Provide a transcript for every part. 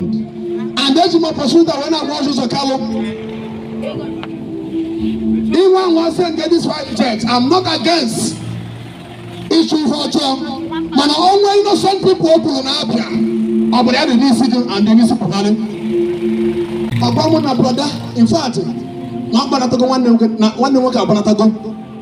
and eji m opportunity wee na-agwa Orji Uzor Kalu ihe nwa sị nke this fighter jet I'm not against ịchụ ihe ọjọọ mana o nwe innocent people o kwuru na Abia ọ bụrụ ya dị n'isi gị and dị n'isi pụtara ọ gwa mụ na brọda in fact na ọ gbanatago nwanne nwoke agbanatago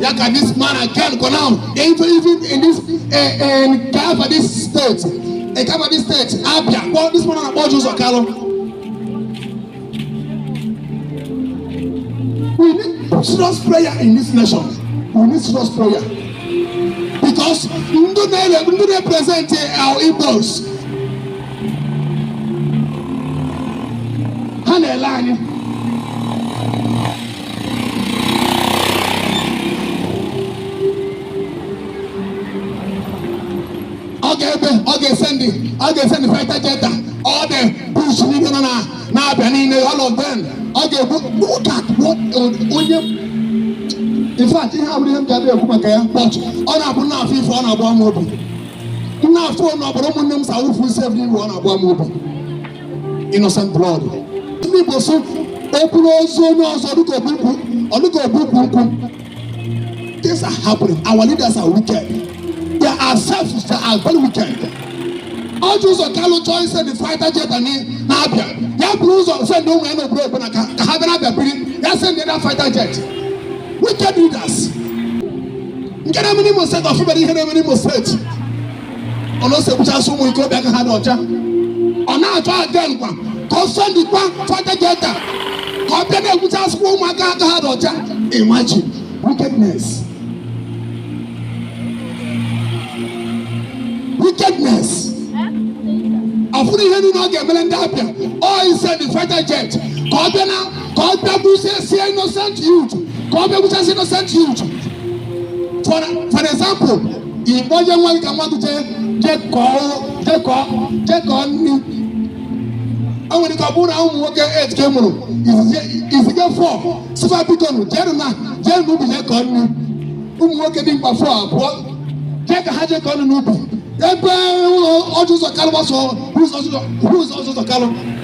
ya ka this man again go now even even in this uh, um, kaba this state uh, kaba this state Abia kpọ this man na-akpọ Orji Uzor Kalu we need serious prayer in this nation we need serious prayer because ndị na-ele ndị na-erepresent our Igbos ha na-ele anyị ọ ga-ebe ọ ga-esendị ọ ga-esendị fighter jet a all the bush niile nọ na na Abia niile all of them ọ ga-egbu look at what onye in fact ihe abụrọ ihe m ga-abịa ekwu maka ya but ọ na-abụ na-afụ ife ọ na-agba m obi na-afụ na ọbara ụmụnne m sa awụfu isi ebe iwu ọ na-agba m obi innocent blood ndị Igbo so o buru ozu onye ọzọ dịka o bu ukwu ọ dịka o bu ukwu nkụ things are happening our leaders are wicked they are selfish they are very wicked Orji Uzor Kalu chọọ isendị fighter jet anyị na Abia ya buru ụzọ send ụmụ ya nọ abroad ka ka ha bịa na Abia biri ya send ya na fighter jet wicked leaders nke na-eme n'Imo State ọ fụberọ ihe na-eme n'Imo State ọ na-esi egbuchasị ụmụ ikorobịa aka ha dị ọcha ọ na-achọ again kwa ka ọ sendịkwa fighter jet a ka ọ bịa na-egbuchasịkwa ụmụaka aka ha dị ọcha imagine wickedness wickedness ọ fụrọ ihe niile ọ ga-emere ndị Abia ọ isendị fighter jet ka ọ bịa na ka ọ bịa gbuchasịa innocent youth ka ọ bịa gbuchasịa innocent youth for for example ị kpọnye nwa gị ka nwa gị jee jee kọọ jee kọọ jee kọọ nri o nwere ike ọ bụrụ na ụmụ nwoke eight ka ị mụrụ i ziga four sị fa biko nụ jee na jee n'ubi jee kọọ nri ụmụ nwoke dimkpa four abụọ jee ka ha jee kọọ nri n'ubi ebe ụlọ Orji Uzor Kalu gbasoo ụzọ Orji Uzor Kalu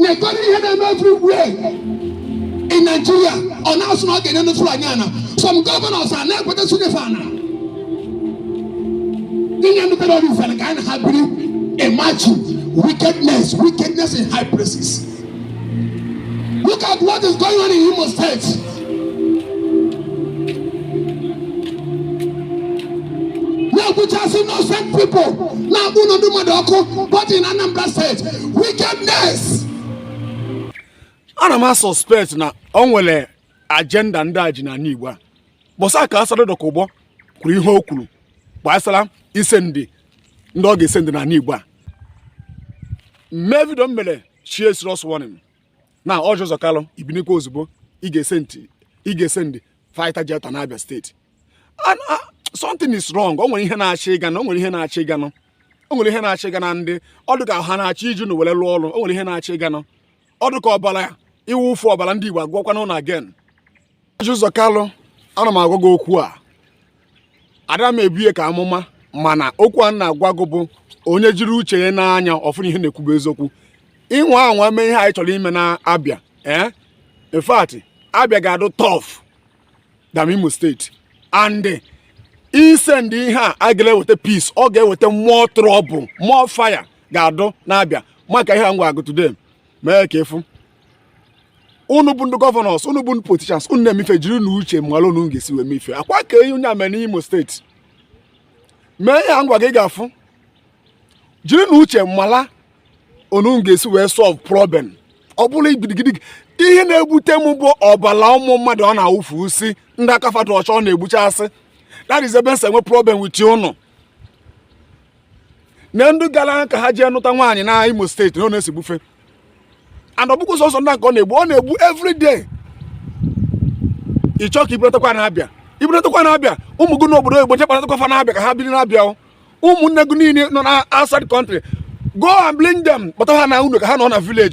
nekọrọ ihe na-eme everywhere in Nigeria ọ na-asị na ọ ga-enye ndị Fulani ana some governors a na-ekweta sị nye fa ana inye ndị terrorist ana ka anyị na ha biri imagine wickedness wickedness in high places look at what is going on in Imo State na-egbuchasị innocent people na-akpọ ụnọ ndụ mmadụ ọkụ both in Anambra steeti wickedness ana m asuspect na o nwere ajenda ndị a ji n'anị Igbo a bọsa ka Asari Dokubo kwuru ihe o kwuru gbasara isendi ndị ọ ga-esendi n'anị Igbo a mee vidio m mere issue serious warning na Orji Uzor Kalu i binikwa ozugbo ị ga-esendi fighter jet na Abịa steeti something is wrong o nwere ihe na-achịga unu o nwere ihe na-achịga unu o nwere ihe na-achịga unu ndị ọ dụ ka ha na-achọ iji unu were lụọ ọlụ o nwere ihe na-achịga unu ọ dụ ka ọbala ịwụfu ọbala ndị Igbo agụwakwana unu again Orji Uzor Kalu ana m agwa gị okwu a ada m ebu ya ka amụma mana okwu a na-agwa gị bụ onye jiri uche ya nee anya ọ fụ na ihe m na-ekwu bụ eziokwu ị nwaa anwa mee ihe ahụ ị chọrọ ime na Abịa ee in fact Abịa ga-adụ tough than Imo steeti and isendi ihe a agaghị eweta peace ọ ga-eweta more trouble more fire ga-adụ na Abịa makịa ihe a m gwaa gụ today mee ka ị fụ unu bụ ndị governors unu bụ ndị politicians unu na-eme ife jiri nụ uche malụ unu ga-esi wee mee ife akwa ka enyi onye ame n'Imo steeti mee ya ngwa gị ga-afụ jiri nụ uche malụ unu ga-esi wee solve problem ọ bụrọ gidigidi ihe na-ewute m bụ ọbala ụmụ mmadụ a na-awụfusị ndị aka fa dụ ọcha a na-egbuchasị that is ebe m si nwee problem with unu na ndị gara ka ha jee nụta nwaanyị na Imo steeti na ọ na-esi gbufe and ọ bụkwa sọsọ ndị nke ọ na-egbu ọ na-egbu everyday ị chọọ ka i butekwa na Abịa i butekwa na Abịa ụmụ gị n'obodo oyibo jee kpọnatakwa fa na Abịa ka ha biri na Abịa ụmụnne gị niile nọ na outside country go and bring them kpọta ha n'ụnọ ka ha nọ na village